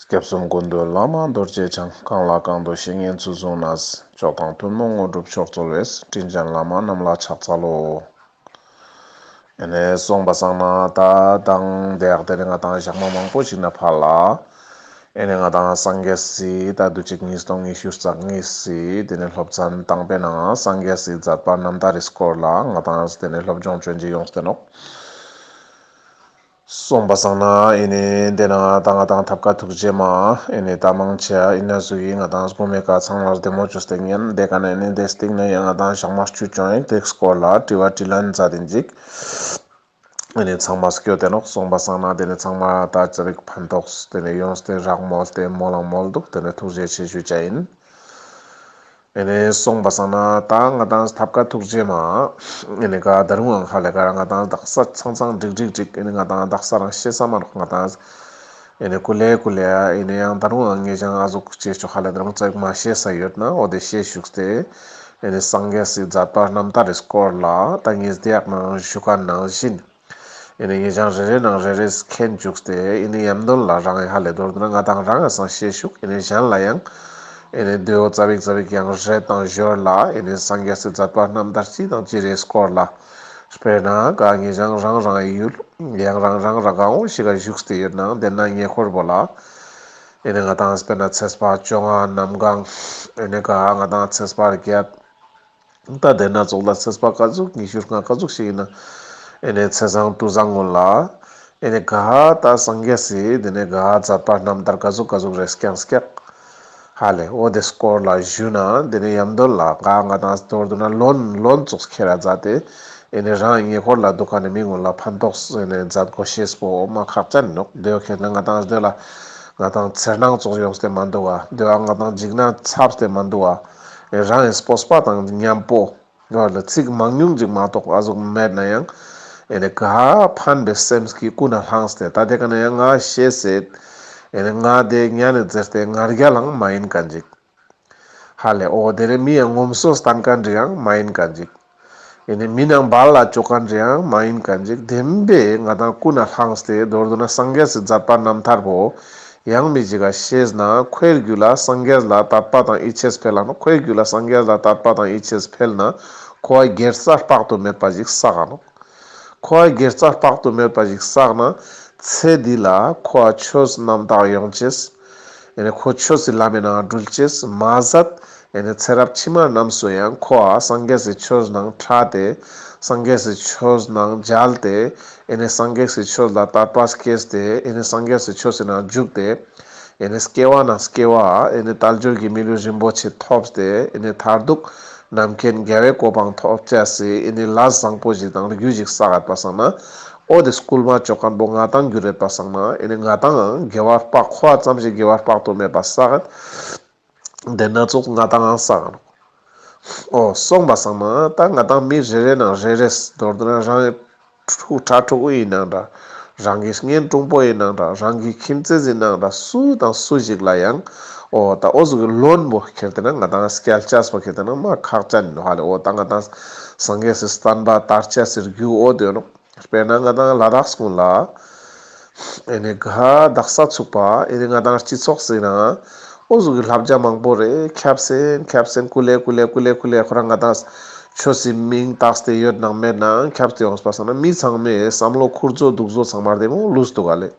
སྐྱབས་གསུམ་སྐུ་མདུན་བླ་མ་རྡོ་རྗེ་འཆང་གང་ལ་གང་འདུལ་བཤེས་གཉེན་ཚུལ་བཟུང་ན། མཆོག་དང་ཐུན་མོང་དངོས་གྲུབ་མཆོག་སྩོལ་བས་སྤྲིན་ཅན་བླ་མ་རྣམས་ལ་ཕྱག་འཚལ་ལོ། དེ་ནས་གསུངས་པ་གསང་སྔགས་ད་དང་འདས་དེ་ནས་ང་དང་ཞག་མ་མང་པོ་ཞིག་ན་ཕར་ལ། ཨེ་ནས་ང་དང་སངས་རྒྱས་སིད་ད་དུ་གཅིག་གཉིས་སྟོང་གཉིས་ཤུར་རྩ་གཉིས་སིད་དེ་ནས་སློབ་ཚན་བཏང་པས་ན་སངས་རྒྱས་སིད་མཛད་པ་རྣམ་དག་རིས་སྐོར་ལ་ང་དང་དེ་ནས་སློབ་སྦྱོང་བྱོན་རྗེས་ཡོངས་བསྟེན་ནོ། གསུངས་པ་བཟང་ན་ཨེ་ནི་འདས་ན་ད་ང་དང་ཐབས་དཀའ་ཐུགས་རྗེ་མ་ཨེ་ནི་ད་མང་ཆེ་ཨ་ཨི་ན་ཟུ་ཡིས་ང་དང་སྒོ་མེད་ཀ་ཚང་མར་བདེ་མོ་ཅོ་སྟེགས་ཉན་བདེ་ག་ན་ཨེ་ནི་བདེ་སྟེགས་ན་ཡང་ང་དང་ཞག་མ་བཅུ་ཅོ་ཨེ་འགྲིགས་སྐོར་ལ་དྲི་བ་དྲིས་ལན་མཛའ་དེ་འཇིགས་ཨེ་ནི་ཚང་མ་སྐྱོ་དེ་ནོག་གསུངས་པ་བཟང་ན་དེ་ནི་ཚང་མ་ད་ཅི་རིགས་ཕན་ཐོགས་དེ་ནི་ཡོངས་སྟེ་རག་མོ་ལྟས་མོ་ལང་མོ་འདུག་དེ་ནི་ཐུགས་རྗེ་ཆེ་ཞུ་བྱ་ཡིན། ཨེ་ནས་སོང་པ་སང་ན་ད་ང་དང་ཐབ་ཀ་ཐུག་རྗེས་མ་ཨེ་ནས་ག་ད་རུང་ཨང་ཧ་ལས་ཀར་ང་དང་དག་ས་ཚང་ཚང་འགྲིག་འགྲིག་འགྲིག་ཨེ་ནས་ང་དང་དག་ས་རང་ཤེས་ས་མ་རོག་ང་དང་ཨེ་ནས་ཀུ་ལེ་ཀུ་ལེ་ཨ་ཨེ་ནས་ཡང་ད་རུང་ཨང་ངེས་ཅང་ཨ་ཟུག་ཅེས་ཆོག་ཧ་ལས་ད་རུང་ཙག་མ་བཤད་ས་ཡོད་ན་ཨོ་དེ་བཤད་བཞུགས་ཏེ་ཨེ་ནས་སངས་རྒྱས་སིད་ཛར་པ་རྣམ་ཐར་རེས་སྐོར་ལ་ད་ངེས་བདེ་ཡག་ནང་བཞུགས་ག་ནང་བཞིན། ཨེ་ནི་ངེད་ཅག་རེ་རེའི་ནང་རེ་རེས་མཁྱེན་བཅུག་སྟེ་ཨེ་ནི་ཡམ་དོལ་ལ་རང་ཡ་ལེ་དོར་དུ་ན་ང་དང་རང་ཡ་སང་ཤེས་བཞུགས་ཨེ་ནི་གཞན་ལ་ཡང་ཨེ་ནི་བདུད་འོ་ཙ་བིག་ཙ་བིག་ཡང་རེ་དང་བཞོལ་ལ་ཨེ་ནི་སངས་རྒྱས་སྲིད་ཛར་པ་རྣམས་དར་ཅི་དང་ཅི་རེས་བསྐོར་ལ། དཔེར་ན་ག་ངེད་ཅག་རང་རང་ཡའི་ཡུལ་ཡང་རང་རང་ར་གང་བོ་ཞིག་ལ་བཞུགས་སྟེ་ཡོད་ན་དེ་ན་ཉེ་འཁོར་བོ་ལ་ཨེ་ནི་ང་དང་དཔེར་ན་ཚེ་སྤགས་བཅོ་ལྔ་ནམ་གང་ཨེ་ནི་ག་ང་དང་ཚེ་སྤགས་བརྒྱད། ད་ལྟའི་སྣ་ཚོགས་ལ་ཚེ་སྤགས་ཀ་ཟུག་ཉི་ཤུར་སྔགས་ཀ་ཟུག་ཞིག་ཡིན་ན། ཨེ་ནས་ཚེ་བཟང་སྤྲུལ་བཟང་ངོ་ལ། ཨེ་ནས་ག་ཧ་ད་སངས་རྒྱས་སི་དེ་ནས་ག་ཧ་ཛར་པ་རྣམ་ཐར་ཀ་ཟུག་ཀ་ཟུག་རེས་སྐྱངས་སྐྱགས། ཧ་ལས་ཨོ་དེ་སྐོར་ལ་བཞུད་ན་དེ་ནས་ཡམ་དོལ་ལ་ག་ཧ་ང་དང་དོལ་དུ་ན་ལོན་ལོན་ཙུགས་ཁེ་ར་རྫ་དེ་ཨེ་ནས་རང་ཉེ་འཁོར་ལ་འདུག་ག་ནས་མི་ངོ་ལ་ཕན་ཐོགས་སུ་ཨེ་ནས་རྫ་དགོ་ཤེས་སྤོ་འོ་མ་ཁག་ཅན་ནོག་དོལ་ཁེ་ན་ང་དང་དོལ་ལ་ང་དང་ཚེར་ནང་ཙུགས་ཡོང་སྟེ་མ་འདུག་བ་དོལ་བ་ང་དང་འཇིགས་ན་ཚབས་སྟེ་མ་འདུག་བ། རང་ཡང་སྤོབས་པ་དང་མཉམ་པོ། ངག་ལ་ཚིག་མང་ཉུང་གཅིག་མ་གཏོགས་ཨ་གཟུགས་མེད་ན་ཡང། ངག་ཕན་པའི་སེམས་ཀྱིས་ཀུན་ལ་བསླངས་སྟེ་ད་ལྟའི་ག་ན་ཡང་ངག་བཤད་ཟེར། ངག་དེ་གཉའ་ནས་བཙིར་ཏེ་ངར་རྒྱ་ལའང་མ་ཡིན་ག་འཇིགས། ཧ་ལས་ཨོ་དེ་རིང་མི་ཡང་ངོམ་སོ་སྟངས་ག་འདྲི་ཡང་མ་ཡིན་ག་འཇིགས། ཡོད་ནས་མི་རྣམས་བར་ལ་ཅོ་ག་འདྲེའང་མ་ཡིན་ག་འཇིག་རྟེན་པས་ང་དང་སྐུ་ན་ལྷགས་ཏེ་མདོར་བསྡུ་ན་སངས་རྒྱས་སུ་མཛད་པ་རྣམ་ཐར་བོ། ཡང་མི་འཇིགས་ཀ་ཤེས་ན་ཁོའི་རྒྱུད་ལ་སངས་རྒྱས་ལ་དད་པ་དང་ཡིད་ཆེས་འཕེལ་ཨང་ཁོའི་རྒྱུད་ལ་སངས་རྒྱས་ལ་དད་པ་དང་ཡིད་ཆེས་འཕེལ་ན་ཁོ་བ་སྒེར་རྩ་དཔག་ཏུ་མེད་པ་ཞིག་བསགས་ཨང། ཁོ་བ་སྒེར་རྩ་དཔག་ཏུ་མེད་པ་ཞིག་བསགས་ན་ཚེ་འདི་ལ་ཁོ་བ་ཆོས་རྣམ་དག་ཡོངས་བྱེད། ཁོ་ཆོས་སུ་ལམ་མེད་ནའང་སྦྲུལ་སྐྱེས་མ་ཟད། ཚེ་རབས་ཕྱི་མ་རྣམས་སུ་ཡང་ཁོ་ཨ་སངས་རྒྱས་སུ་ཆོས་ནང་ཕྲ་སྟེ། སངས་རྒྱས་སུ་ཆོས་ནང་མཇལ་ཏེ། སངས་རྒྱས་སུ་ཆོས་ལ་དར་པ་སྐྱེས་ཏེ། སངས་རྒྱས་སུ་ཆོས་སུ་ནང་བཞུགས་ཏེ། སྐྱེ་བ་ན་སྐྱེ་བ། དལ་འབྱོར་གྱི་མི་ལུས་རིན་པོ་ཆེ་ཐོབ་སྟེ། མཐར་གདུག་རྣམ་མཁྱེན་རྒྱལ་བའི་གོ་འཕང་ཐོབ། ལྷ་བཟང་པོ་ཞིག་དང་རྒྱུད་ཞིག་བསགས་ཡོད་པ་བསམ་ན། ཨོ་དེ་སྐུལ་མ་ཅོ་དཀར་པོ་ང་དང་རྒྱུ་རེད་པ་བསམ་ན་ཨེ་ནི་ང་དང་འང་དགེ་བར་དཔག་ཁོ་བ་ཙམ་ཞིག་དགེ་བར་དཔག་ཏུ་མེད་པ་ས་གནྡྷེ་སྣ་ཚོགས་ང་དང་འང་བསམ་ཨོ་སོང་པ་བསམ་ན་ད་ང་དང་མི་རེ་རེ་ནང་རེ་རེས་མདོར་དོན་རང་ཡི་ཕྲུག་ཁྲ་ཕྲུག་དབུས་ཡི་ནང་འདྲ་རང་གི་ངན་དྲུང་པོ་ཡི་ནང་འདྲ་རང་གི་ཁྱིམ་མཚེས་ཡི་ནང་འདྲ་སུ་དང་སུ་ཞིག་ལ་ཡང་ཨོ་ད་ཨོ་སུ་གི་བློན་པོ་ཁྱེར་དེ་ན་ང་དང་སྐལ་ལྕགས་པོ་ཁྱེར་དེ་ན་མ་ཁག་ཅག་ནི་ནོ་ཧ་ལས་ཨོ་ད་ང་དང། སངས་རྒྱས་སུ་བསྟན་པ་དར་ཆ་ཟེར་རྒྱུའི་འོ་དོད་ནོ། དཔེར་ན་ང་དང་ལ་དྭགས་སྐོར་ལ་ཨེ་ནས་དགའ་དག་ས་ཚུགས་པ་ཨེ་རེད་ང་དང་སྤྱི་ཚོགས་ཟེར་ན་ཨོ་གཟུགས་ཀྱི་ལྷ་བརྒྱ་མང་པོ་རེད་ཁྱབ་སེམས་ཁྱབ་སེམས་ཀུ་ལེ་ཀུ་ལེ་ཀུ་ལེ་ཁུ་ལེ་ཁོ་རང་ང་དང་ཆོས་སྲིད་མིང་བཏགས་སྟེ་ཡོད་ནང་མེད་ནང་ཁྱབ་སྟེ་ཡོང་སྲིད་པ་སོང་ན་མི་ཚང་མས་བསམ་བློ་འཁུར་བཟོ་སྡུག་བཟོ་ཚང་མར་དེ་མོ་བསླུས་སྡུག་ག་ལེ།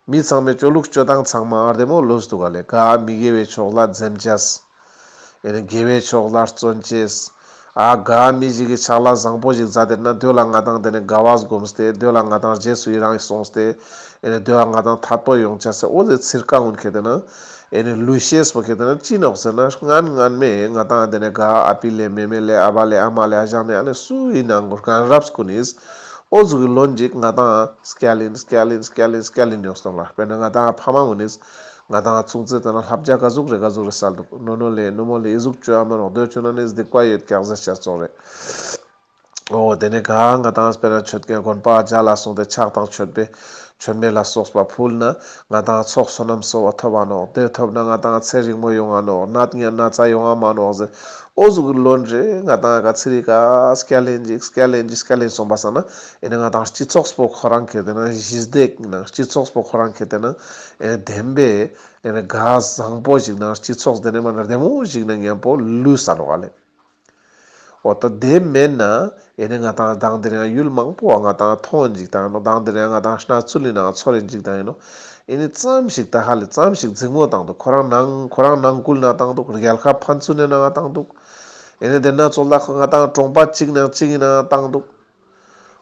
མི་ཚང་མའི་སྤྱོད་ལུགས་སྤྱོད་སྟངས་ཚང་མ་ཨར་འདེམས་འོག་ལོས་འདུག་ག་ལས་ཀ་ཨ་མི་དགེ་བའི་ཕྱོགས་ལ་འཛེམ་བྱས། ཨེ་ནས་དགེ་བའི་ཕྱོགས་ལ་བརྩོན་བྱས། ཨ་ག་ཨ་མི་ཞིག་གི་ཕྱག་ལ་བཟང་པོ་ཞིག་བཟའ་དེར་ན་སྡོད་ལ་ང་དང་དེ་ནས་དགའ་བ་སྒོམས་ཏེ་སྡོད་ལ་ང་དང་རྗེས་སུ་ཡི་རངས་སོང་སྟེ་ཨེ་ནས་སྡོད་ཨ་ང་དང་ཐར་ཐོར་ཡོང་བྱས་ཟེར་འོ་ཟེར་ཚིར་ཀ་ངོན་ཁད་དེ་ན་ཨེ་ནས་ལུས་ཤེས་པོ་ཁད་དེ་ན་ཅི་ནོག་ཟེར་ན་ངན་ངན་མེད་ང་དང་ཨ་དེ་ནས་དགའ་ཨ་ཨ་ཕི་ལས་མེ་མེ་ལས་ཨ་བ་ལས་ཨ་མ་ལས་ཨ་ཞང་ནས་ཨ་ནས་སུའི་ནང་གུར་གང་རབས་སྐུ་ནིས། ཨོ་རྫུ་གི་ལོ་འཇིག་ང་དང Scalin Scalin Scalin Scalin ཡོང་སྟོབས་ལ་དཔེར་ན་ང་དང་ཕ་མ་མུ་ནིས་ང་དང་ཚུགས་རྩིས་བཏོན་ན་ལྷ་བརྒྱ་དགའ་གཟུགས་རེ་དགའ་གཟུགས་རེ་བསལ་འདུག་ནོ་ནོ་ལེ་ནུ་མོ་ལེ་ཨི་གཟུགས་བཅོས་ཨ་མ་རོགས་འདོད་ཁྱོད་ན་ནི་སྡིག་པ་ཡོད་སྐྱག་ཟས་ཤ་བཙོག་རེད་ཨོ་དེ་ནས་ག་ང་དང་དཔེར་ན་ཆོད་དཀའི་དགོན་པ་བརྒྱ་ལ་སོང་སྟེ་ཕྱག་དང་མཆོད་པའི་མཆོད་མེ་ལ་སོགས་པ་ཕུལ་ན་ང་དང་ཚོགས་བསོད་ནམས་གསོལ་བ་ཐོབ་བ་ནོག་དེ་ཐོབ་ན་ང་དང་ཚེ་རིང་མོ་ཡོང་བ་ནོག་ནད་ངན་ན་ཚ་ཡོང་བ་མ་ནོག་ཟེར་ཨོ་ཟུག་གི་ལོ་འདྲེ་ང་དང་ག་ཚི་རི་ཀ་སྐལ་ལྷན་ཅིག་སྐལ་ལྷན་ཅིག་སྐལ་ལྷན་གསུངས་པ་ས་ན་ཨེ་ན་ང་དང་སྤྱི་ཚོགས་པོ་ཁོ་རང་གི་དེ་ན་གཞི་བདེག་ན་སྤྱི་ཚོགས་པོ་ཁོ་རང་གི་དེ་ན་ཨེ་ན་བདེན་པས་ཨེ་ན་དགའ་བཟང་པོ་ཞིག་ན་སྤྱི་ཚོགས་དེ་ན་མ་ན་བདེ་མོ་ཞིག་ན་ངན་པོ་ལུས་ས་ནོག་ག་ལེ། འོ་ད་དེ་མེད་ན་ཡེ་ནས་ང་དང་བདག་འདིར་ཡང་ཡུལ་མང་པོ་བ་ང་དང་མཐོང་འཇིག་དང་ཡིན་ནོ་བདག་འདིར་ཡང་ང་དང་སྣ་ཚུལ་ཡིན་ནའང་ཚོར་རེ་འཇིག་དང་ཡིན་ནོ། ཡེ་ནས་ཙམ་ཞིག་ད་ཧ་ལས་ཙམ་ཞིག་རྫིག་མོ་དང་འདུག་ཁོ་རང་ནང་ཁོ་རང་ནང་སྐུལ་ན་དང་འདུག་རྒྱལ་ཁ་ཕན་ཚུན་ནས་ནའང་དང་འདུག། ཡེ་ནས་དེ་ནང་ཚོ་ལ་ཁོ་ང་དང་གྲོང་པ་གཅིག་ནང་གཅིག་ཡིན་ནའང་དང་འདུག།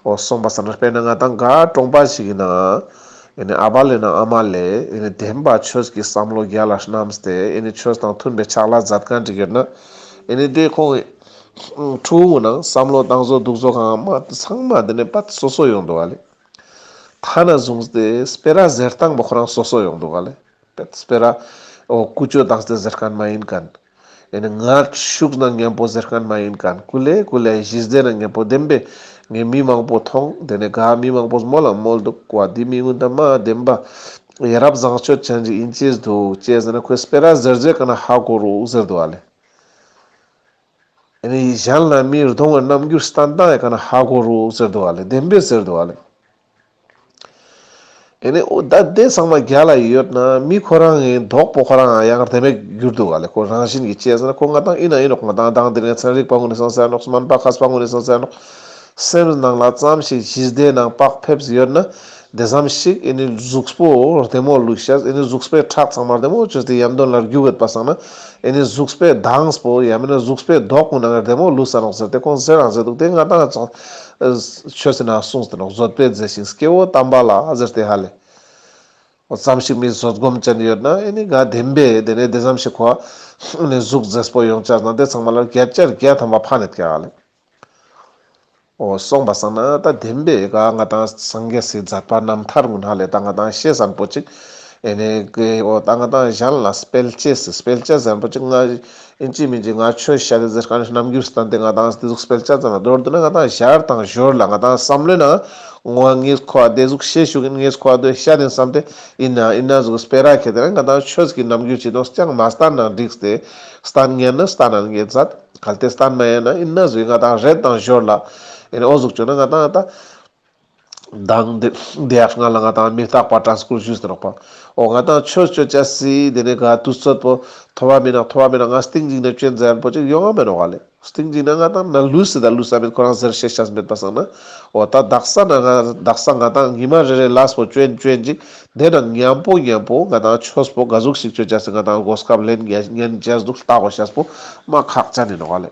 ཨོ་གསུངས་པ་ཟེར་ན་དཔེར་ན་ང་དང་འགའ་གྲོངས་པ་ཞིག་ཡིན་ན། ཨ་ཕ་ལས་ན་ཨ་མ་ལས་བདེན་པ་ཁྱོད་ཀྱི་བསམ་བློ་རྒྱ་ལ་བསྣམས་ཏེ་ཁྱོད་དང་མཐུན་པའི་ཕྱག་ལ་མཛད་གང་བྲིས་ཡོད་ན། དེ་ཁོང་ཁྲོ་བོའི་ནང་བསམ་བློ་བཏང་བཟོ་སྡུག་བཟོ་གང་མ་ཚང་མ་དེ་ནས་པ་སོ་སོ་ཡོང་འདུག་ག་ལེ། ཐ་ན་བཟུང་སྟེ་སྤེ་ར་ཟེར་སྟངས་པ་ཁོ་རང་སོ་སོ་ཡོང་འདུག་ག་ལེ། སྤེ་ར་ཨོ་ཀུ་ཅོ་དང་ཟེར་གང་མ་ཡིན་ག། ཡེ་ནས་ངར་ཤུགས་ནང་ངན་པོ་གཟེར་སྐལ་མ་ཡིན་གང་ཀུ་ལེ་ཀུ་ལེ་གཞི་རྩའི་ནང་ངན་པོ་བདེན་པས་ངས་མི་མང་པོ་མཐོང་དེ་ནས་དགའ་མི་མང་པོ་སྨོད་ལ་སྨོད་འདུག་བ་འདི་མི་དངོས་དང་མ་བདེན་པ་ཡ་རབས་བཟང་སྤྱོད་ཅན་ཞིག་ཡིན་ཅེས་འདུག་ཅེས་ཟེར་ན་ཁོས་སྤེ་ར་གཟེར་རྗེས་ག་ན་ཧ་གོ་རུག་ཟེར་འདུག་ཨ་ལེ། ཡེ་ནས་གཞན་ལ་མིར་གདོང་བའི་རྣམ་འགྱུར་སྟན་དང་ཡང་ག་ན་ཧ་གོ་རུག་ཟེར་འདུག་ཨ་ལེ་བདེན་པས་ཟེར་འདུག་ཨ་ལེ། ཨེ་ནས་ཨོ་ད་དེ་ཚང་མ་རྒྱ་ལ་ཡོད་ན་མི་ཁོ་རང་ངའི་གདོག་པོ་ཁོ་རང་ཡང་དེ་མེད་གྱུར་འདུག་ག་ལེ་ཁོ་རང་བཞིན་གྱི་ཅེས་ཟེར་ན་ཁོ་ང་དང་ཨི་ན་ཨི་ནོག་ང་དང་དང་དེ་ངའི་ཚན་རིག་པ་དངོས་ནས་སོང་ཟེར་ནོག་སྨན་པ་ཁ་པ་དངོས་ནས་སོང་ཟེར་ནོག་སེམས་ནང་ལ་ཙམ་ཞིག་གཞི་བདེ་ནང་བག་ཕེབས་ཡོད་ན་དེ་ཙམ་ཞིག་ཨི་ནི་གཟུགས་པོ་བདེ་མོ་ལུས་ཤ་ཨི་ནི་གཟུགས་པའི་ཁྲག་ཚང་མ་བདེ་མོ་གྱུར་ཏེ་ཡར་འདོན་ལར་རྒྱུག་ཡོད་པ་བསམ་ན་ཨི་ནི་གཟུགས་པའི་མདངས་པོ་ཡང་མིན་ན་གཟུགས་པའི་གདོག་པོ་ནང་ངའི་བདེ་མོ་ལུས་ཟེར་ནོག་ཟེར་ཏེ་ཁོང་ཟེར་རང་ཟེར་འདུག་དེ་ང་དང་ཆོས་ཟེར་ན་གསུང་ཟེར་ན་བཟོད་པས་མཛེས་ཤིང་སྐྱེ་བོ་དམ་པ་ལ་ཟེར་ཏེ་ཧ་ལས། འོ་བརྩམས་ཤིག་མི་བཟོད་སྒོམ་ཅན་ཡོད་ན་ཨེ་ནི་དགའ་བདེན་པས་དེ་ནས་བདེ་འཚམས་ཤིག་གོ། འོ་ནི་གཟུགས་མཛེས་པོ་ཡོངས་བཅགས་དང་དེ་ཚང་མ་ལ་བརྒྱད་བཅར་བརྒྱད་ཐམ་པ་ཕ་ནི་བསྐྱལ་ཨ་ལས། འོ་སོང་བ་སང་ན་ད་བདེན་པས་དགའ་ང་དང་སངས་རྒྱས་སྲིད་མཛད་པ་རྣམ་ཐར་ངུ་ཧ་ལས་ད་ང་དང་ཤེས་ཟན་པོ་ཅིག་ཨེ་ནི་དགའི་འོ་ད་ང་དང་གཞན་ལ་སྤེལ་བྱེད་སྲིད་སྤེལ་བྱེད་ཟན་པོ་ཅིག་ང་ཨིན་ཇི་མིན་ཇི་ང་ཆོས་བཤད་དེ་ཟེར་གང་ཞིག་རྣམ་འགྱུར་སྟངས་དེ་ང་དང་སྡེ་གཟུགས་སྤེལ་ཆ་ཙམ་ལ་མདོར་བསྡུ་ན་ང་དང་ཞར་དང་ཞོར་ལ་ང་དང་བསམ་བློའི་ནང་ངོ་བ་ངེས་ཁོ་བ་སྡེ་གཟུགས་ཤེད་ཤུགས་ཡིན་ངེས་ཁོ་བ་དོན་ཤ་དེང་སམ་དེ་ཡིན་ན་ཡིན་ན་གཟུགས་སྤེལ་ར་ཁད་དེ་ན་ང་དང་ཆོས་ཀྱི་རྣམ་འགྱུར་གྱི་ནོར་རྐྱང་མ་སྟར་ན་འགྲིགས་ཏེ་སྟར་ངེས་ན་སྟར་ན་ངེས་ཟད་གལ་ཏེ་སྟར་མ་ཡིན་ན་ཡིན་ན་གཟུགས་ཡིན་ང་དང་རེད་དང་ཞོར་ལ་ཡིན་ཨོ་གཟུགས་བྱུང་ན་ང་དང་ད། གདངས་འདི་འདི་ཡང་སྔགས་ལ་ང་དང་མི་རྟག་པར་དྲངས་སྐུར་བཞུགས་ཟེར་རོགས་པ་ཨོ་ང་དང་ཁྱོད་སྤྱོད་བཅས་སྲིད་འདི་ནས་ག་དུས་རྩོད་པོ་ཐོ་བ་མིན་ན་ཐོ་བ་མིན་ན་ང་སྟེང་འཇིག་ན་སྐྱོན་འཛལ་པོ་ཅིག་ཡོང་ཨ་མེད་རོགས་ཨ་ལེ་སྟེང་འཇིག་ན་ང་དང་ན་ལུས་སྲིད་ད་ལུས་ས་མིན་ཁོ་རང་ཟེར་བཤད་ཤ་ཟ་མེད་པ་བསམ་ན་ཨོ་ད་བདག་ས་ན་ང་བདག་ས་ང་དང་ཉི་མ་རེ་རེ་ལགས་པོ་སྐྱོན་སྐྱོན་ཅིག་འདས་ན་ཉམས་པོ་ཉམས་པོ་ང་དང་ཁྱོད་སྤོ་ག་གཟུགས་ཤིག་སྤྱོད་བཅས་སྲིད་ང་དང་སྒོ་སྐབས་ལེན་རྒྱ་ཉན་བཅས་སྡུག་ལྟ་བ་ཤ་སྤོ་མ་ཁག་ཅག་ནི་རོགས་ཨ་ལེ།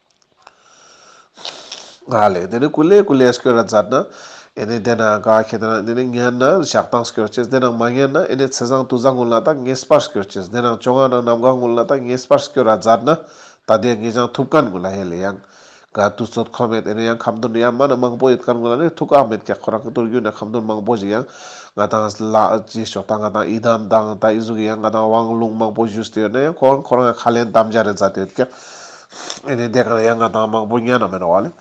ལས་དེ་ནི་ཀུ་ལས་ཀུ་ལས་སྐྱོ་ར་འཛར་ན་ཨེ་ནས་དེ་ན་ག་ཁྱེད་དེ་ན་དེ་ནི་ངན་ན་ཞག་གཏང་སྐྱོ་ཅེས་དེ་རང་མ་ངན་ན་ཨེ་ནས་ཚེ་བཟང་ཏུ་ཟ་ངུ་ལ་ད་ངས་སྤར་སྐྱོ་ཅེས་དེ་རང་སྐྱོ་ང་རང་ནམ་ག་ངུ་ལ་ད་ངས་སྤར་སྐྱོ་ར་འཛར་ན་ད་དེ་ངས་ཅང་ཐུབ་ཀན་ངུ་ལ་ཧེ་ལས་ཡང་ག་དུས་ཚོད་ཁོ་མེད་ཨེ་ནས་ཡང་ཁམ་དོན་ཡ་མ་ན་མང་པོ་ཡོད་ཀན་ངུ་ལ་ནས་ཐུག་ཨ་མེད་ཀྱ་ཁོ་རང་གི་དུར་རྒྱུད་ན་ཁམ་དོན་མང་པོ་ཞིག་ཡང་ང་དང་ལ་ཅི་ཞོག་ད་ང་དང་ཨི་དམ་དང་ད་ཨི་གཟུགས་ཡང་ང་དང་བང་ལུང་མང་པོ་བཞུས་ཏེ་ཡོད་ན་ཡང་ཁོ་རང་ཁོ་རང་ཡང་ཁ་ལན་དམ་བཅའ་རེ་འཛར་ཏེ་ཡོད་ཀྱ། ཨེ་ནི་འདས་གང་ཡང་ང་དང་མང་པོ་གཉའ་ན་མི་རོ་བ་ལས།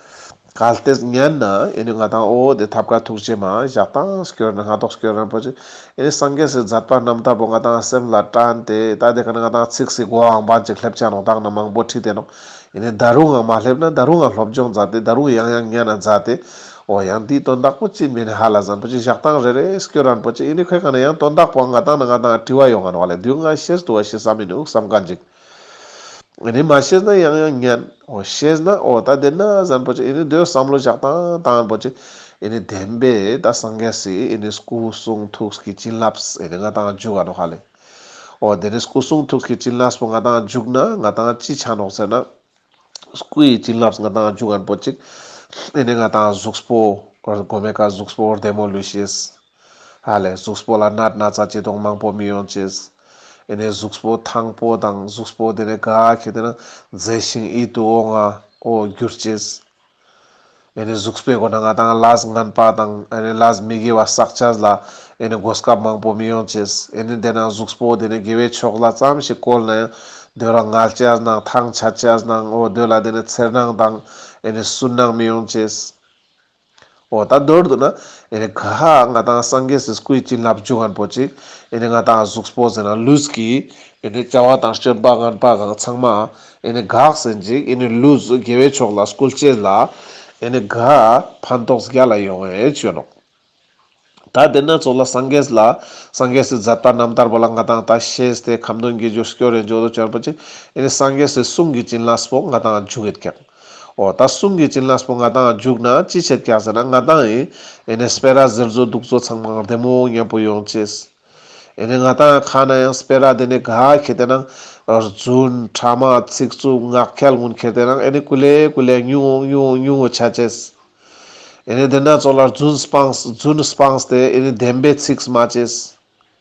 གལ་ཏེ་གཉན་ན་ཨེ་ནི་ང་དང་ཨོ་ཨོ་དེ་ཐབས་དཀར་ཐུགས་རྗེ་མ་བཞག་སྟངས་སྐྱོ་ར་ན་སྔ་དོགས་སྐྱོ་ར་རིན་པོ་ཆེ་ཨེ་ནི་སངས་རྒྱས་སུ་མཛད་པ་རྣམས་ལྟ་བུ་ང་དང་སེམས་ལ་དྲན་ཏེ་ད་འདས་གང་ན་ང་དང་ཚིག་སི་གོ་འང་བ་འཇིག་སླེབ་བྱ་རུང་དག་ན་མང་པོ་ཁྲིད་དེ་ནོ། ཨེ་ནི་ད་རུང་འང་མ་སླེབ་ན་ད་རུང་འང་སློབ་སྦྱོང་མཛའ་སྟེ་ད་རུང་ཡང་ཡང་གཉའ་ན་མཛའ་སྟེ། ཨོ་ཡང་འདིའི་དོན་དག་པོ་ཅི་མེ་ནི་ཧ་ལ་བཟང་པོ་ཅི་བཞག་སྟངས་རེ་རེ་སྐྱོ་ར་རིན་པོ་ཆེ་ཨེ་ནི་ཁོས་གང་ན་ཡང་དོན་དག་པོ་འང་ང་དང་ན་ང་དང་བྲི་བ་ཡོང་འང་བ་ལས་དུས་འང་ཤེས་སྡུ་བ་ཤི་བསམ་མི་ནུས་བསམ་ག་འཇིག། རེད་མ་ཤེས་ན་ཡང་ཡང་ཉན། འོ་ཤེས་ན་འོ་ད་དེ་ན་གཟན་པོ་ཅིག་འདོད་བསམ་བློ་བཞག་དང་དང་པོ་ཅིག་བདེན་པས་ད་སངས་རྒྱས་སི་སྐུ་གསུང་ཐུགས་ཀྱི་བྱིན་རླབས་ང་དང་འཇུག་ཨ་ནོ་ཧ་ལས། འོ་དེ་ནས་སྐུ་གསུང་ཐུགས་ཀྱི་བྱིན་རླབས་པོ་ང་དང་འཇུག་ན་ང་དང་ཅི་ཆ་ནོག་ཟེར་ན། སྐུ་ཡི་བྱིན་རླབས་ང་དང་རྒྱུ་ངར་པོ་གཅིག། ཨེ་ནས་ང་དང་གཟུགས་པོ། སྒོ་མེད་ཀ་གཟུགས་པོ་བདེ་མོ་ལུས་ཤེས། ཧ་ལས་གཟུགས་པོ་ལ་སྣ་ན་ཚ་བྱེད་གདོང་མང་པོ་མི་ཡོང་ཅེས། ཨེ་ནས་གཟུགས་པོ་ཐང་པོ་དང་གཟུགས་པོ་དེ་ནས་ག་གི་དེ་ན་མཛེས་ཤིང་ཡིད་དུ་འོང་ང་འོ་འགྱུར་ཅེས། གཟུགས་པོའི་སྒོ་ན་ང་དང་ལཱས་ངན་པ་དང་ལཱས་མི་དགེ་བ་བསགས་བྱ་ལ་གོ་སྐབས་མང་པོ་མི་ཡོང་ཆེད། འདས་ན་གཟུགས་པོ་དེ་ནི་དགེ་བའི་ཕྱོགས་ལ་ཙམ་ཞིག་བཀོལ་ན་ཡང་འདོད་རང་ངལ་བྱ་རྣམས་ཐང་ཆད་བྱ་རྣམས་འོ་དོད་ལ་འདས་ན་འཚེར་སྣང་དང་སུན་སྣང་མི་ཡོང་ཆེད། ཨོ་ད་མདོར་བསྡུ་ན་ཨེ་རེད་ག་ཧ་ཨ་ང་དང་སངས་རྒྱས་སུ་སྐུལ་གྱི་ལབ་རྒྱུ་ངན་པོ་ཅིག་ཨེ་རེད་ང་དང་གཟུགས་པོ་ཟེར་ན་ལུས་ཀྱི་ཨེ་རེད་བྱ་བ་དང་སྤྱོད་པ་ངན་པ་གང་ཚང་མ་ཨེ་རེད་གག་ཟེར་འཇིག་ཨེ་རེད་ལུས་དགེ་བའི་ཕྱོགས་ལ་སྐུལ་བྱེད་ལ་ཨེ་རེད་ག་ཨ་ཕན་ཐོགས་བརྒྱ་ལ་ཡོང་བའི་ཆོས་ལོག་ད་དེ་སྣ་ཚོགས་ལ་སངས་རྒྱས་ལ་སངས་རྒྱས་སུ་མཛད་པ་རྣམ་ཐར་པ་ལ་ང་དང་ད་ཤེས་ཏེ་ཁམས་དོན་གྱི་རྒྱུ་སྐྱོ་རེ་འཇོག་ཏུ་བྱོན་པ་ཅིག་ཨེ་རེད་སངས་རྒྱས་སུ་གསུང་གི་བྱིན་རླབས་སྤོག་ང་དང་རྒྱུ་ཨེ་ཁྱབ། འོ་ད་གསུང་གི་བྱིན་རླབས་པོ་ང་དང་རྒྱུག་ན་ཅི་བྱེད་སྐྱག་ཟེར་ན་ང་དང་ཨེ་ཨེ་ནས་སྤེ་ར་ཟེར་ཚོ་འདུག་ཚོ་ཚང་མ་བདེ་མོ་མཉམ་པོ་ཡོང་ཅེས། ཨེ་ནས་ང་དང་ཁ་ན་ཡང་སྤེ་ར་དེ་ནས་ག་ཁྱེད་དེ་ནང་རྫུན་ཕྲ་མ་ཚིག་རྩུབ་ངག་འཁྱལ་ངུ་འཁྱལ་དེ་རང་ཨེ་ནས་ཀུ་ལེ་ཀུ་ལེ་ཉུག་ངོ་ཉུག་ངོ་ཉུག་ངོ་བྱ་ཅེས། ཨེ་ནས་དེ་འདྲ་ཚོ་ལ་རྫུན་སྤངས་རྫུན་སྤངས་ཏེ་ཨེ་ནས་བདེན་པའི་ཚིག་སྨྲ་ཅེས།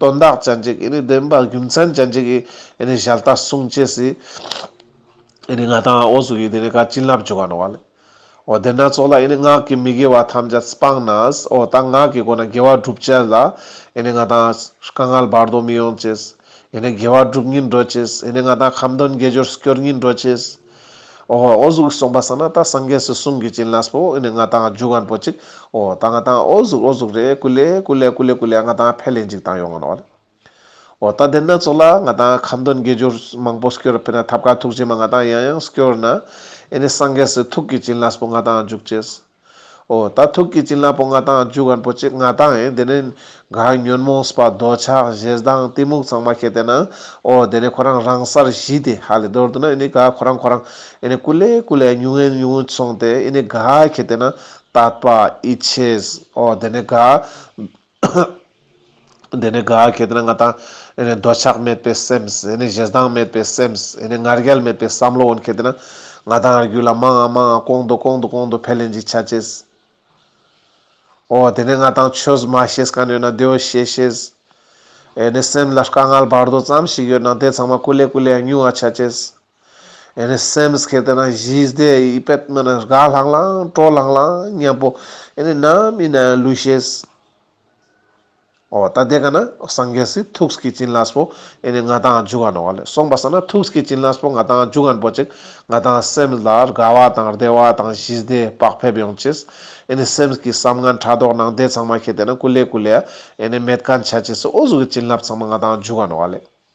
དོན་དག་ཅན་གྱི་བདེན་པ་རྒྱུ་མཚན་ཅན་གྱི་ཞལ་ལྟ་གསུང་བྱས་སུ་ང་དང་ཨོ་སུ་གིས་བྱིན་རླབས་བྱུང་བ་ནོ། བདེན་སྣ་ཚོགས་ལ་ངག་གི་མི་དགེ་བ་ཐམས་ཅད་སྤངས་ན་ཨོ་ད་ངག་གི་སྒོ་ནས་དགེ་བ་བསྒྲུབ་བྱས་ལ་ང་དང་དཀའ་ངལ་བར་དོ་མི་ཡོང་བྱས། དགེ་བ་བསྒྲུབ་ཉིན་འགྲོ་བྱས། ང་དང་ཁམས་དོན་དགེ་སྦྱོར་སྐྱོར་ཉིན་འགྲོ་བྱས། ཨོ་གཟུགས་གསུངས་པ་ས་ན་ད་སངས་རྒྱས་སུ་གསུང་གི་ཅིན་ལགས་པོ་ཨོ་ནི་ང་དང་རྒྱུ་གང་པོ་ཅིག་ཨོ་ད་ང་དང་ཨོ་གཟུགས་ཨོ་གཟུགས་རེད་ཀུ་ལེ་ཀུ་ལེ་ཀུ་ལེ་ཀུ་ལེ་ང་དང་ཕལ་ལེ་འཇིག་དང་ཡོང་ངོ་ཨོ་ད་དེ་སྣ་ཚོགས་ལ་ང་དང་ཁམས་དོན་དགེ་སྦྱོར་མང་པོ་སྐྱོར་ཕེ་ན་ཐབས་ཀ་ཐུགས་རྗེ་མ་ང་དང་ཡང་ཡང་སྐྱོར་ན་ཨེ་ནི་སངས་རྒྱས་སུ་ཐུགས་ཀྱི་ཅིན་ལགས་པོ་ང་དང་འཇུག་ཅེས། ཨོ་ད་ཐུག་གི་བྱིན་རླབས་པོ་ལྔ་དང་རྒྱུ་གར་པོ་གཅིག་ལྔ་དང་ཨེ་འདི་ནི། གངས་ཉོན་མོངས་པ་རྡོ་ཆགས་བཞི་དང་གཏི་མུག་ཚང་མ་བསྐྱེད་དེ་ན། ཨོ་འདི་ནི་ཁོ་རང་རང་གསར་བཞི་སྟེ་ཧ་ལས་རྡོར་དུ་ན་ཨེ་ནི་ག་ཁོ་རང་ཁོ་རང་ཨེ་ནི་ཀུ་ལེ་ཀུ་ལེ་ཉུང་ཨེ་ཉུང་སོང་སྟེ་ཨེ་ནི་ག་བསྐྱེད་དེ་ན། ཏཱད་པ་ཨི་ཆེས་ཨོ་འདི་ནི་ག། འདི་ནི་ག་གེ་དེ་ན་ང་དང་འདོད་ཆགས་མེད་པའི་སེམས། བཞེད་སྟངས་མེད་པའི་སེམས། ང་རྒྱལ་མེད་པའི་བསམ་བློ་འོན་གེ་དེ་ན། ང་དང་ང་རྒྱུད་ལ་མང་ང་མང་ང་གོང་དུ་གོང་དུ་གོང་དུ་འཕེལ་ལེན་གྱི་ཆ་བྱེད། ཨོ་དེ་ནས་ང་དང་ཆོས་མ་ཤེས་ག་ནས་ཡོད་ན་དེ་འོས་ཤེས་ཤེས། སེམས་ལ་དཀའ་ངལ་བར་དོ་ཙམ་ཞིག་ཡོད་ན་དེ་ཚང་མ་ཀུ་ལེ་ཀུ་ལེ་ཡང་ཉུང་བ་ཆ་བྱེད། ཨེ་ནས་སེམས་ཁེ་དེ་ན་བཞི་བཟླས་ཡིད་པད་སྨད་ན་དགའ་ལྷང་ལྷང་སྤྲོ་ལྷང་ལྷང་སྙམ་པོ་ཨེ་ནས་ནམ་ཡིན་ན་ལུས་ཤེས། ཨོ་ད་དེ་ག་ན་སངས་རྒྱས་སི་ཐུགས་ཀྱི་བྱིན་རླབས་པོ་ཨེ་ནས་ང་དང་རྒྱུ་ག་ནོ་ག་ལས་སོང་པ་ས་ན་ཐུགས་ཀྱི་བྱིན་རླབས་པོ་ང་དང་རྒྱུ་ག་པོ་ཅིག་ང་དང་སེམས་ལ་དགའ་བ་དང་བདེ་བ་དང་བཞི་བཟླས་བག་ཕེབས་ཡོང་ཆེས་ཨེ་ནས་སེམས་ཀྱི་བསམ་ངན་ཕྲ་དོག་ནང་བདེ་ཚང་མ་ཁེ་དེ་ན་ཀུ་ལེ་ཀུ་ལེ་ཨེ་ནས་མེད་ག་འཆའ་ཆེས་ཨོ་གཟུགས་ཀྱི་བྱིན་རླབས་ཚང་མ་ང་དང་རྒྱུ་ག་ནོ་ག་ལས།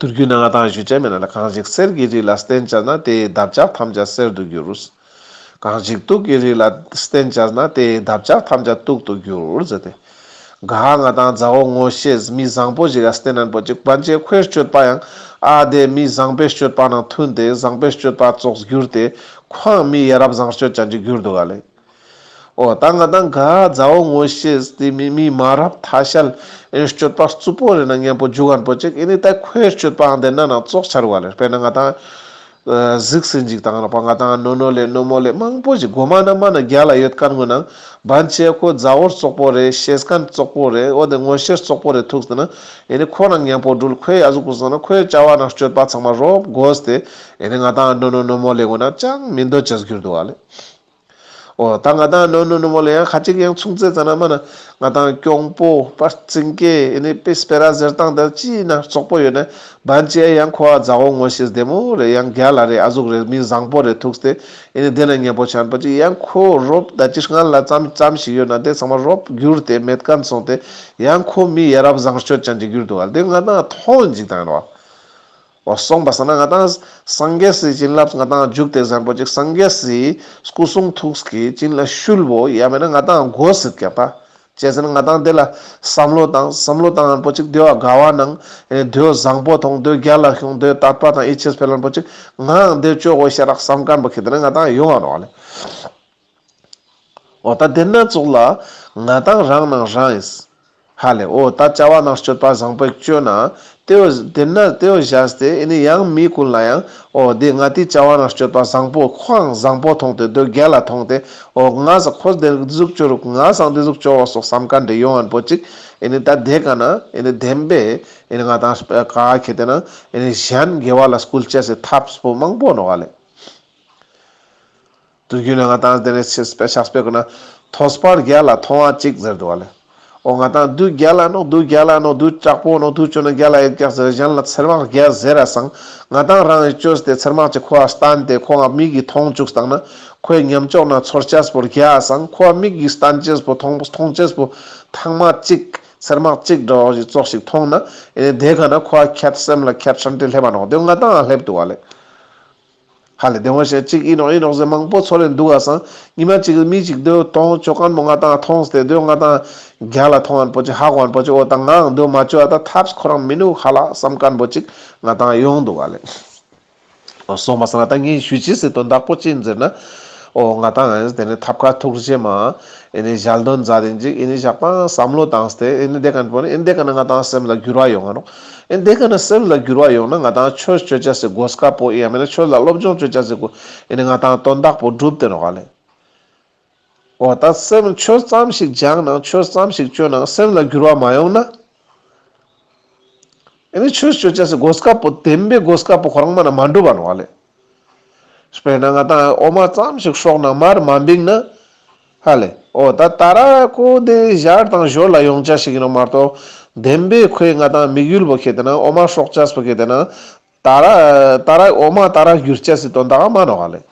དུར་རྒྱུན་ན་ང་དང་གཞུ་ཆེན་མེད་ན་གང་ཞིག་གསེར་གྱི་རིགས་ལ་སྟན་བཅར་ན་དེའི་འདབ་ཆགས་ཐམས་ཅད་གསེར་དུ་འགྱུར། གང་ཞིག་དུག་གི་རིགས་ལ་སྟན་བཅར་ན་དེའི་འདབ་ཆགས་ཐམས་ཅད་དུག་ཏུ་འགྱུར། ཟེར་ཏེ། ག་ཨ་ང་དང་མཛའ་བོ་ངོ་ཤེས་མི་བཟང་པོ་ཞིག་ལ་སྟན་རན་པོ་ཆེ་དཀོན་མཆེད་ཁོའི་སྤྱོད་པ་ཡང་ཨ་དེ་མི་བཟང་པའི་སྤྱོད་པ་ནང་མཐུན་ཏེ་བཟང་པའི་སྤྱོད་པ་བཙོག་གྱུར་ཏེ་ཁོའང་མི་ཡ་རབས་བཟང་སྤྱོད་ཅན་གྱི་གྱུར་འདུག་ག་ལེགས། ཨོ་ད་ང་དང་ག་ཛའོ་ངོ་ཤེས་དེ་མི་མི་མ་རབས་མཐའ་ཤལ་ཨེ་སྤྱོད་པ་རྩུབ་པོ་རེད་ན་ངན་པོ་རྒྱུ་གར་འབོད་ཅིག་ཨེ་ནི་ད་ཁོའི་སྤྱོད་པའང་བདེན་ན་ན་ཙོག་ཆར་བ་ལེར་དཔེར་ན་ང་དང་གཟིགས་སེ་འཇིག་དང་རག་པ་ང་དང་རྣོ་རྣོ་ལས་རྣོ་མོ་ལས་མང་པོ་ཞིག་སྒོ་མ་ན་མ་ན་རྒྱ་ལ་ཡོད་དཀར་ངོས་ནང་བན་ཆེ་ཁོ་ཛའོར་ཙོག་པོ་རེད་ཤེས་གན་ཙོག་པོ་རེད་ཨོ་དེ་ངོ་ཤེར་ཙོག་པོ་རེད་ཐུགས་དེ་ན་ཨེ་ནི་ཁོ་རང་ངན་པོ་སྦྲུལ་ཁོའི་ཡ་གཟུགས་ཀུན་བཟང་ན་ཁོའི་བྱ་བ་ན་སྤྱོད་པ་ཚང་མ་རོབ་དགོས་དེ་ཨེ་ནི་ང་དང་རྣོ་རྣོ་རྣོ་མོ་ལས་ངོས་ན་ཅང་མི་འདོད་ཅེས་གྱུར་འདུག་བ་ལེ། ཨོ་ད་ང་དང་ནོ་ནོ་ནུ་མོ་ལ་ཡང་ཁ་ཅིག་ཡང་མཚུངས་ཚེ་ཙ་ན་མ་ན་ང་དང་སྐྱོང་པོ་པར་ཙིང་ཀེ་ཨེ་ནི་པི་སྤེ་ར་ཟེར་སྟངས་དེར་ཅི་ཡིན་ན་ཙོག་པོ་ཡོད་ནས་བན་ཅེ་ཨེ་ཡང་ཁོ་ཨ་ཛའོ་ངོ་ཤེས་བདེ་མོ་རེད་ཡང་རྒྱ་ལ་རེད་ཨ་གཟུགས་རེད་མི་བཟང་པོ་རེད་ཐུགས་ཏེ་ཨེ་ནི་དེ་ན་ཉེ་པོ་བྱམས་པོ་ཅིག་ཡང་ཁོ་རོབ་ད་ཅི་སྔར་ལ་ཙམ་ཙམ་ཞིག་ཡོད་ན་དེ་ཚང་མ་རོབ་གྱུར་ཏེ་མེད་ག་མཚུངས་ཏེ་ཡང་ཁོ་མི་ཡ་རབས་བཟང་སྤྱོད་ཅན་གྱི་གྱུར་འདུག་ཨ་དེ་ང་དང་ཐོག་འཇིག་དང་ཡིན་ནོ། བ་སོང་པ་ཟ་ན་ང་དང། སངས་རྒྱས་སུའི་བྱིན་རླབས་ང་དང་འཇུག་དེ་བཟང་པོ་གཅིག་སངས་རྒྱས་སུའི་སྐུ་གསུང་ཐུགས་ཀྱི་བྱིན་ལ་ཤུལ་བོ་ཡ་མེད་ན་ང་དང་སྒོ་ཟིག་བརྒྱབ་པ་བཅད་ཟིན་ན་ང་དང་དེ་ལ་བསམ་བློ་དང་བསམ་བློ་དང་རན་པོ་གཅིག་འདོད་དགའ་བ་ནང་ཨེ་འདོད་བཟང་པོ་ཐོང་འདོད་རྒྱ་ལ་ཤོང་འདོད་དར་པ་དང་ཨེ་ཆེས་འཕེལ་རན་པོ་གཅིག་ངའང་འདོད་བཅོག་གོ་ཞེས་རགས་བསམ་སྐམ་པོ་ཁེ་དེ་ནས་ང་དང་ཡོང་བ་རོགས་ལས། ཨོ་ད་དེ་སྣ་ཚོགས་ལ། ང་དང་རང་སྣང་རང་ཨེས། ཧ་ལས་ཨོ་ད་བྱ་བ་ནག་སྤྱོད་པ་བཟང་པོས་སྤྱོད་ན། དེ་འོ་དེ་ན་དེ་འོ་བཞག་སྟེ་ཨེ་ནི་ཡང་མི་ཀུན་ལ་ཡང་ཨོ་དེ་ང་དེ་བྱ་བ་ནག་སྤྱོད་པ་བཟང་པོ་ཁོའང་བཟང་པོ་མཐོང་སྟེ་དོལ་རྒྱལ་ལ་མཐོང་སྟེ་ཨོ་ང་བཟང་ཁོ་དེ་གཟུགས་སྤྱོད་རུག་ང་བཟང་དེ་གཟུགས་སྤྱོད་འོ་སོགས་བསམ་ག་འདྲེ་ཡོང་བ་པོ་ཅིག་ཨེ་ནི་ད་དེ་ག་ན་ཨེ་ནི་དེམ་པས་ཨེ་ནི་ང་དང་ག་གེ་དེ་ན་ཨེ་ནི་གཞན་དགེ་བ་ལ་སྐུལ་བྱེད་སའི་ཐབས་པོ་མང་པོ་འགྲོ་ག་ལས། དུ་རྒྱུ་ལས་ང་དང་དེ་ནས་ཕྱིར་སྤེལ་ཕྱག་སྤེལ་བསྐུར་ན། ཐོས་པར་བརྒྱ་ལ་མཐོང་བ་གཅིག་ཟེར་འདུག་བ་ལས། འོ་ང་དང་བདུད་བརྒྱ་ལ་ནོག་བདུད་བརྒྱ་ལ་ནོག་བདུད་དྲག་པོ་ནོག་བདུད་བྱོན་ན་བརྒྱ་ལ་ཡིག་བརྒྱ་ཟེར་གཞན་ལ་ཚེར་མག་བརྒྱ་ཟེར་ར་སང་ང་དང་རང་ཡིས་བཅོས་ཏེ་ཚེར་མག་ཅིག་ཁོ་བ་སྟན་ཏེ་ཁོ་བ་མིག་གིས་མཐོང་བཅུགས་བཏང་ན་ཁོའི་ཉམས་ལྕོགས་ན་ཚོར་ཅེས་པོ་བརྒྱ་སང་ཁོ་བ་མིག་གིས་སྟན་ཅེས་པོ་མཐོང་མཐོང་ཅེས་པོ་ཐང་མག་གཅིག་ཚེར་མག་གཅིག་འདྲ་བ་བཞིན་ཙོག་ཞིག་མཐོང་ན་ཨེ་ནས་དེ་ག་ན་ཁོ་བ་ཁྱད་སེམས་ལ་ཁྱད་ཧྲན་ཏེ་སླེབ་པ་ནོག་བདུད་ང་དང་ཨ་སླེབ་འདུག་བ་ལས། ཧ་ལས་དེ་ངོ་ཤེས་གཅིག་ཨི་ནོག་ཨི་ནོག་ཟེར་མང་པོ་ཚོར་རེ་འདུག་ག་སང་ཉི་མ་གཅིག་རེ་མི་གཅིག་སྡོད་གཏོང་ཆོག་གང་མོ་ང་དང་ཐོང་སྟེ་སྡོད་ང་དང་རྒྱ་ལ་ཐོང་ཨན་པོ་ཅི་ཧ་གོ་ཨན་པོ་ཅི་ཨོ་ད་ངའང་སྡོད་མ་བཅོས་ཨ་ད་ཐབས་ཁོ་རང་མི་ནུག་ཧ་ལགས་བསམ་ག་ཨན་པོ་ཅིག་ང་དང་ཡོང་འདུག་ག་ལས། ཨོ་སོང་བ་སང་ཨ་ད་ངས་ཞུས་ཅི་ཟེར་དོན་དག་པོ་ཅི་ཟེར་ན། ཨོ་ང་དང་ཨན་དེ་ནས་ཐབས་ཁ་ཐུག་རེ་བྱེད་མ་ཨེ་ནས་ཞལ་འདོན་མཛའ་དེ་འཇིག་ཨེ་ནས་ཞག་པང་བསམ་བློ་བཏང་སྟེ་ཨེ་ནས་བསྡད་ག་ཨན་པོ་ཨེ་འདེད་ག་ན་ང་དང་སེམས་ལ་འགྱུར་བ་ཡོང་ཨ་རོགས། ཨེ་འདི་ག་ནས་སེམས་ལ་འགྱུར་བ་ཡོང་ན་ང་དང་ཁྱོད་སྤྱོད་བྱ་ཟེར་དགོས་དཀའ་པོ་ཡང་མིན་ན་ཁྱོད་ལ་སློབ་སྦྱོང་སྤྱོད་བྱ་ཟེར་དགོས་ཨེ་ནི་ང་དང་དོན་དག་པོ་སྒྲུབ་དེ་རང་བ་ལས། འོ་ད་སེམས་ཆོས་ཙམ་ཞིག་སྦྱངས་ནང་ཆོས་ཙམ་ཞིག་སྤྱོད་ནང་སེམས་ལ་འགྱུར་བ་མ་ཡོང་ན། ཨེ་ནི་ཁྱོད་སྤྱོད་བྱ་ཟེར་དགོས་དཀའ་པོ་དེ་འདི་དགོས་དཀའ་པོ་ཁོ་རང་མ་ན་མ་འགྲུབ་བ་རང་བ་ལས། དཔེར་ན་ང་དང་ཨོ་མ་ཙམ་ཞིག་ཤོག་ནང་མར་མ་འབིགས་ན། ཧ་ལས། ཨོ་ད་ད་ར་ཀོ་དེ་གཞར་དང་ཞོར་ལ་ཡོང་ཅ་ཞིག་ཡིན་ནོ་མ་གཏོགས། བདེན་པའི་ཁོས་ང་དང་མིག་ཡུལ་བོ་ཁེ་དེ་ན་ཨོ་མ་ཤོག་ཅ་སྤུ་ཁེ་དེ་ན། ད་ར། ད་ར་ཨོ་མ་ད་ར་བསྒྱུར་ཅ་སི་དོན་དག་མ་ནོ་ཧ་ལས།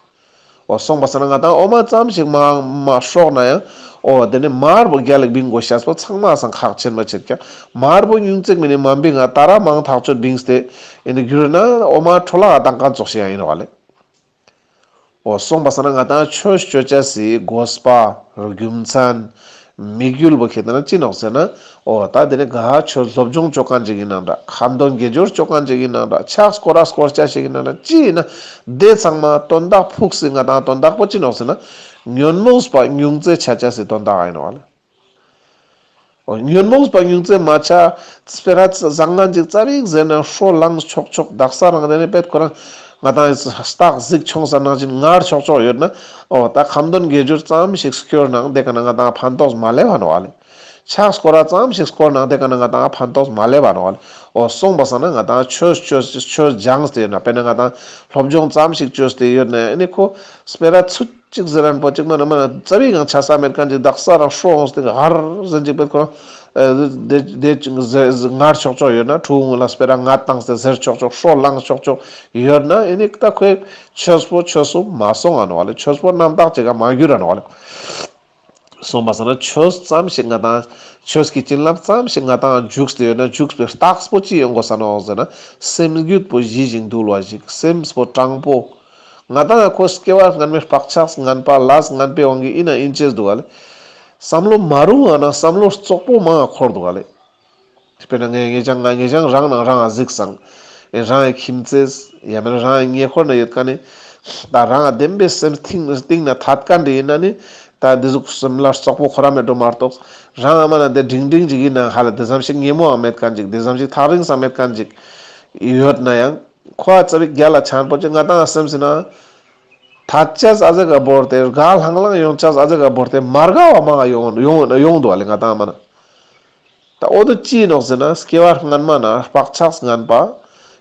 ཨོ་སོང་པ་ས་ན་ང་དང་ཨོ་མ་ཙམ་ཞིག་མ་མ་ཤོག་ན་ཡང། ཨོ་དེ་ནས་མར་བོ་རྒྱ་ལེགས་འབིང་དགོ་ཤ་སྤུ་ཚང་མ་སང་ཁག་ཆེར་མ་ཆེར་ཀྱང་མར་བོ་སྙུན་བརྩེགས་མི་ནས་མ་འབིགས་ང་ད་ར་མང་ཐག་ཆོད་འབིངས་སྟེ། ཡིན་ནི་གུ་རུ་ན་འོ་མ་འཕྲོ་བརླག་དང་ཀ་རྫོགས་ཤིག་ཡང་ཡིན་རུང་བ་ལས། འོ་གསུངས་པ་ས་ན་ང་དང་ཆོས་སྤྱོད་བྱ་སའི་སྒོ་སྤ་རྒྱུ་མཚན། མི་རྒྱུལ་བོ་ཁྱེད་དང་ན་ཅི་ནོག་ཟེར་ན། འོ་ད་དེ་ནི་དགའ་ཆོས་སློབ་སྦྱོང་སྤྱོད་གང་ཅིག་ཡིན་ནང་འདྲ་ཁ་མདོ་དགེ་སྦྱོར་སྤྱོད་གང་ཅིག་ཡིན་ནང་འདྲ་ཕྱག་སྐོར་ར་སྐོར་བྱ་ཞིག་ཡིན་ནང་འདྲ་ཅི་ཡིན་ན་བདེ་ཚང་མ་དོན་བདག་ཕུགས་སི་ང་དང་དོན་བདག་པོ་ཅི་ནོག་ཟེར་ན། ཉོན་མོངས་པ་ཉུང་བརྩེ་བྱ་བྱ་སའི་དོན་བདག་ཡིན་རུང་བ་ལས། ཉོན་མོངས་པ་ཉུང་ཙམ་མ་ཆགས། ཙི་ཕེ་ར་ཙི་བཟང་ང་འཇིགས་རྩྭ་རིགས་ཟེར་ན་ཧྲོ་ལངས་ཆོག་ཆོག་རྡག་ས་རང་རེད་རེད་པད་ཁོ་རང་ང་དང་སྟག་གཟིག་ཆུང་ས་ནང་བཞིན་ངར་ཆོག་ཆོག་ཡོད་ན་ཨོ་ད་གམ་དོན་དགེ་སྦྱོར་ཙམ་ཞིག་སྐྱོར་ནང་བསྡད་ག་ན་ང་དང་ཕན་ཐོགས་མ་ལས་བ་ནོ་ལེ། ཕྱག་སྐོར་ར་ཙམ་ཞིག་སྐོར་ནང་བསྡད་ག་ན་ང་དང་ཕན་ཐོགས་མ་ལས་བ་ནོ་ལེ་ཨོ་སོང་བ་ས་ན་ང་དང་ཆོས་ཆོས་ཆོས་སྦྱངས་ཏེ་ཡོད་ན་དཔེར་ན་ང་དང་སློབ་སྦྱོང་ཙམ་ཞིག་བྱོས་ཏེ་ཡོད་ན་ཨེ་ནི་ཁོ་ཙི་ཕེ་ར་ཙི། གཅིག་ཟེར་རན་པོ་གཅིག་མ་རེད་མ་རེད་རྩ་བའི་གང་ཆ་ས་མེར་གང་གྱི་བདག་ས་རང་ཧྲོ་འོང་སྟེ་ག་ཧར་ཟེར་འཇིག་པའི་ཁོ་རང་བདེ་བདེ་ངར་ཆོག་ཆོག་ཡོད་ན་ཁྲུའུ་ངོས་ལ་སྤེ་ར་ང་བཏང་སྟེ་ཟེར་ཆོག་ཆོག་ཧྲོ་བླངས་ཆོག་ཆོག་ཡོད་ན་ཨེ་ནི་ད་ཁོས་ཆོས་པོ་ཆོས་སུ་མ་སོང་ཨ་ནོ་ཨ་ལེ་ཆོས་པོ་རྣམ་དག་ཅིག་ག་མ་གྱུར་ཨ་ནོ་ཨ་ལེ། གསུངས་པ་སོགས་ན་ཆོས་ཙམ་ཞིག་ང་དང། ཆོས་ཀྱི་བྱིན་རླབས་ཙམ་ཞིག་ང་དང་འཇུག་ཏུ་ཡོད་ན་འཇུག་པའི་རྟགས་པོ་ཅི་ཡོད་མགོ་ས་ནས་འོག་ཟེར་ན་སེམས་རྒྱུད་པོ་བཞི་ཞིག་འདུལ་བ་ཞིག་སེམས་པོ་སྤྲང་པོ། ང་དང་ཡང་ཁོ་སྐྱེ་བ་སྔ་མའི་བག་ཆགས་ངན་པ་ལ་ངན་པའི་དབང་གིས་དབྱིན་ན་དབྱིན་ཇིར་འདུག་ག་ལེ། བསམ་བློ་མ་རུང་བ་ན་བསམ་བློ་ཙོག་པོ་མང་ཡང་འཁོར་འདུག་ག་ལེ། དཔེར་ན་ངས་ངེད་ཅག་ང་ངེད་ཅག་རང་ནང་རང་ཨ་གཟིགས་བཟང། ཨེ་རང་ཨའི་ཁྱིམ་མཚེས། ཡང་མིན་རང་ཨའི་ཉེ་འཁོར་ན་ཡོད་ཀ་ནི། ད་རང་ཨ་བདེན་པའི་སེམས་གཏིང་ན་ཐད་ཀ་འདྲེ་ཡིན་ན་ནི། ད་འདི་གཟུགས་སེམས་ལ་སོགས་པོ་ཁོ་རང་མེད་འགྲོ་མ་གཏོགས། རང་ཨ་མ་ན་འདི་འབྲིང་འབྲིང་ཅིག་ཡིན་ནའང་ཧ་ལ་འདི་ཙམ་ཞིག་སྙན་མོའང་མེད་ཀ་འཇིག་འདི་ཙམ་ཞིག་ཐག་རིང་སང་མེད་ཀ་འཇིག། ཡོད་ན་ཡང། ཁོ་ཨ་ཙི་བའི་རྒྱ་ལ་ཆང་ཕོར་གྱི་ང་དང་ཨ་སེམས་སེ་ན། ད་ཅེས་ཨ་ཙི་ག་བོར་ཏེ་རྒ་ལྷང་ལྷང་ཡོང་ཅེས་ཨ་ཙི་ག་བོར་ཏེ་མ་རྒ་བ་མང་ཨ་ཡོང་འོད་ན་ཡོང་འདུག་ཨ་ལས་ང་དང་ཨ་མ་ན། ད་འོ་དོད་ཅི་ཡིན་འོག་ཟེར་ན་སྐྱེ་བ་སྔ་མ་ན་སྤགས་ཆགས་སྔངས་པ།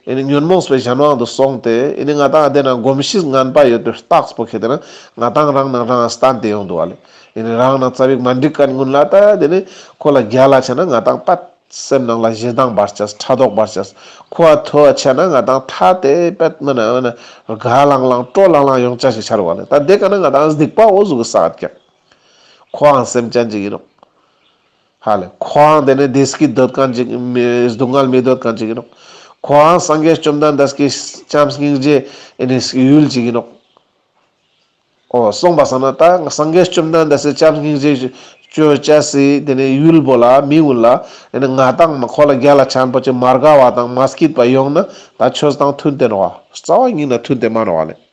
ཨེ་ནི་ཉོན་མོངས་པའི་གཞན་དབང་དུ་སོང་སྟེ་ཨེ་ནི་ང་དང་ཨ་དེ་ན་གོམས་གཤིས་སྔངས་པ་ཡོད་པའི་རྟགས་པོ་ཁེ་དེ་ན་ང་དང་རང་ནང་རང་ཨ་སྟན་དེ་ཡོང་འདུག་ཨ་ལས་ཨེ་ནི་རང་ནང་རྩ་བའི་མ་འགྲིག་གལ་མགོན་ལ་ད་དེ་ནས་ཁོ་ལ་རྒྱ་ལ་ཆ་ན་ང་དང་ད་སེམས་ནང་ལ་གཞི་གདངས་བར་ཆད་ཕྲ་དོག་བར་ཆད་ཁོ་ཨ་ཐོ་ཨ་ཆ་ན་ང་དང་ཐ་དེ་པད་མ་ན་ཨ་ན་རྒ་ལང་ལང་སྤྲོ་ལང་ལང་ཡོང་ཅག་ཞིག་ཆར་བ་ལས་ད་དེ་ག་ན་ང་དང་ཨ་སྡིག་པ་འོ་གཟུགས་ཀྱི་ས་ཨ་ཀྱག་ཀྱག་ཁོ་ཨང་སེམས་ཅན་ཅིག་ཡིན་འོག། ཧ་ལས། ཁོའང་དེ་ནས་དེས་ཀྱིས་འདོད་གང་ཅིག་སྡུག་བསྔལ་མི་འདོད་གང་ཅིག་ཡིན་ནོ། ཁོའང་སངས་རྒྱས་བཅོམ་ལྡན་འདས་ཀྱི་སྤྱན་སྙིང་རྗེས་ཡུལ་ཅིག་ཡིན་ནོ། ཨོ། གསུངས་པ་ས་ན་ད་སངས་རྒྱས་བཅོམ་ལྡན་འདས་སའི་སྤྱན་སྙིང་རྗེས་སྤྱོད་བྱས་སའི་དེ་ནས་ཡུལ་བོ་ལ་མི་འོས་ལ། ང་དང་ཁོ་ལ་རྒྱ་ལ་ཆེན་པོ་ཅིག་མ་དགའ་བ་དང་མ་སྐྱིད་པ་ཡོང་ན་ད་ཁྱོད་དང་མཐུན་རྟེན་རོ། རྩ་བ་ཉིད་ན་མཐུན་རྟེན་མ་རོ་ཨ་ལས།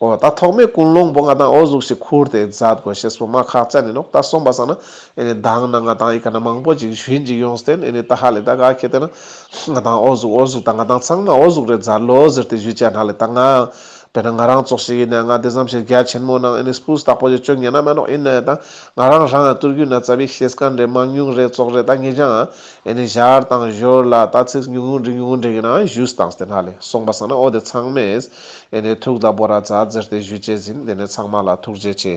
ཨོ་ད་ཐོག་མའི་ཀུན་སློང་པོ་ང་དང་ཨོ་གཟུགས་ཤིག་ཁུར་ཏེ་འཛའ་དགོས་ཞེས་སྤོ་མ་ཁག་ཅག་ནི་ལོག་ལྟ་སོང་པ་བསམ་ན་ཨེ་ནི་གདའང་ན་ང་དང་ཨི་ཁ་ན་མང་པོ་ཅིག་གཞོན་ཅིག་ཡོང་སྟེ་ཨེ་ནི་ད་ཧ་ལས་ད་ག་ཁྱེད་བལྟས་ན། ང་དང་ཨོ་གཟུགས་ཨོ་གཟུགས་ད་ང་དང་ཚང་མ་ཨོ་གཟུགས་རེད་འཛའ་ལོ་ཟེར་ཏེ་བཞུད་བཅས་ན་ལས་ད་ང། དཔེར་ན་ང་རང་ཙོག་ཞིག་ཡིན་ནའི་ང་དེ་ཙམ་ཞིག་རྒྱ་ཆེན་མོ་ནང་ཨེ་ནི་སྤུས་དག་པོ་ཞིག་སྤྱོད་ངེས་ན་མེད་ནོག་ཡིན་ནའི་ད་ང་རང་རང་ཡང་བསྟུར་རྒྱུ་ན་རྩ་བའི་ཤེས་དཀའ་འདྲེ་མང་ཉུང་རེད་ཙོག་རེད་ད་ངེས་ཀྱང་ཨེ་ནི་གཞར་དང་གཞོར་ལ་ད་ཚིགས་ཉུང་ངུ་འབྲི་ཉུང་ངུ་འབྲི་ཡིན་ནའང་བཞུད་སྟངས་དེ་ན་ལས་སོང་པ་བསམ་ན་ཨོ་དེ་ཚང་མས། དེ་ནས་ཐུགས་དང་པོ་ར་རྫ་འཛེར་ཏེ་བཞུད་བྱས་ཟིན་དེ་ནས་ཚང་མ་ལ་ཐུགས་རྗེ་ཆེ།